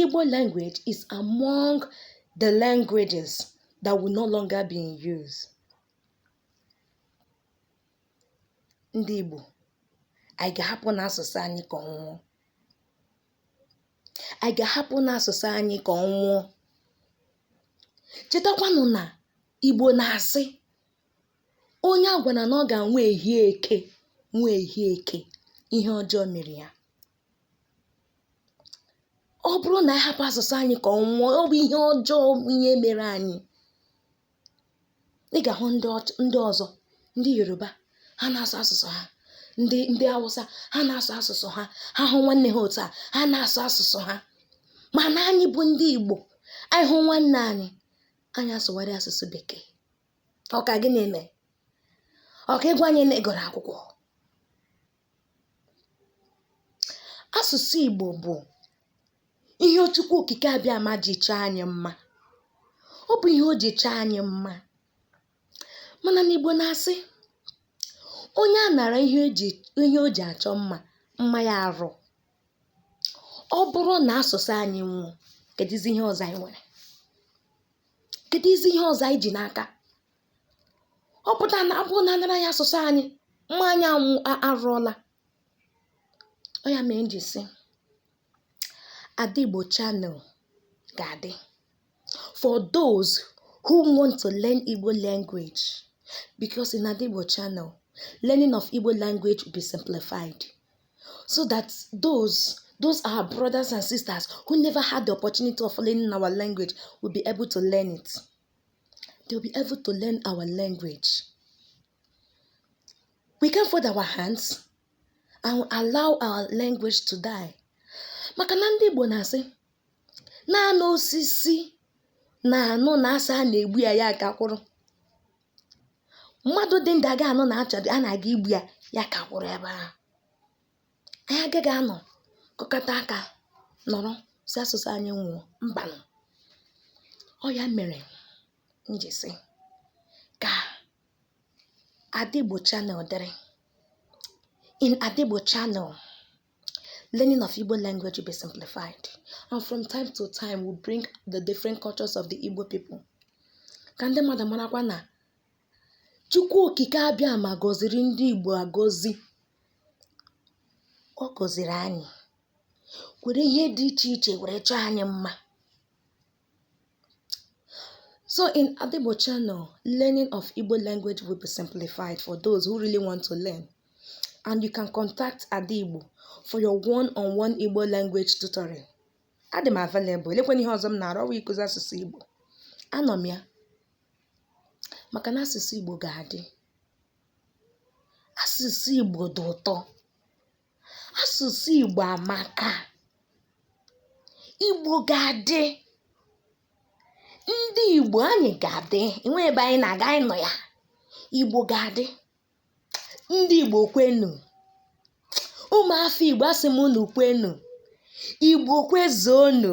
Igbo language is among the languages that will no longer be in use. Ndị Igbo, anyị ga-ahapụ na asụsụ anyị ka ọ nwụọ. Anyị ga-ahapụ na asụsụ anyị ka ọ nwụọ. Chetakwanụ na Igbo na-asị onye a gwara na ọ ga-anwụ ehie eke nwụọ ehie eke, ihe ọjọọ mere ya. ọ bụrụ na anyị hapụ asụsụ anyị ka ọ nwụọ ọ bụ ihe ọjọọ bụ ihe mere anyị ị ga-ahụ ndị ọch- ndị ọzọ ndị yoruba ha na-asụ asụsụ ha ndị ndị awụsa ha na-asụ asụsụ ha ha hụ nwanne ha otu a ha na-asụ asụsụ ha mana anyị bụ ndị igbo anyị hụ nwanne anyị anyị asụgharị asụsụ bekee ọ ka gịnị mee ọ ka ị gwa anyị na ị gụrụ akwụkwọ Asụsụ Igbo bụ ihe Chukwu okike abịama ji chọọ anyị mma. Ọ bụ ihe o ji chọọ anyị mma. Mana na Igbo na-asị, onye a nara ihe o ji ihe o ji achọ mma, mma ya arụọ. Ọ bụrụ na asụsụ anyị nwụọ, kedụzi ihe ọzọ anyị nwere? Kedụzi ihe ọzọ anyị ji n'aka? ọ pụta na ọ bụrụ na a nara anyị asụsụ anyị mma anyị anwụ arụọla ọ ya mee m ji sị Ada Igbo channel ga-adị for those who want to learn Igbo language because in Ada Igbo channel learning of Igbo language will be simplified so that those those our brothers and sisters who never had the opportunity of learning our language will be able to learn it. They'll be able to learn our language. We can't fold our hands and allow our language to die. Maka na ndị Igbo na-asị naanị osisi na-anụ na a sị a na-egbu ya ya ka kwụrụ. Mmadụ dị ndụ aga anụ na a chọ a na-aga igbu ya ya ka kwụrụ ebe ahụ. anyị agaghị anọ kụkọta aka nọrọ sị asụsụ anyị nwụọ mbanụ ọ ya mere m ji sị ka Ada Igbo Channel dịrị in Ada Igbo Channel learning of Igbo language will be simplified and from time to time we bring the different cultures of the Igbo people ka ndị mmadụ marakwa na Chukwu okike abịama gọziri ndị Igbo agọzi Ọ gọziri anyị, were ihe dị iche iche were chọọ anyị mma. So in Ada Igbo channel, learning of Igbo language will be simplified for those who really want to learn. And you can contact Ada Igbo for your one-on-one Igbo language tutoring. Adị m available, elekwana ihe ọzọ m na-arụ ọwa ịkụzi asụsụ Igbo. Anọ m ya maka na asụsụ Igbo ga-adị. Asụsụ Igbo dị ụtọ. Asụsụ Igbo amaka. Igbo ga-adị. Ndị Igbo anyị ga-adị. Enweghị ebe anyị na-aga anyị nọ ya. Igbo ga-adị. Ndị Igbo kwenu. Ụmụafọ Igbo asị m unu kwenu. Igbo kwezuonu.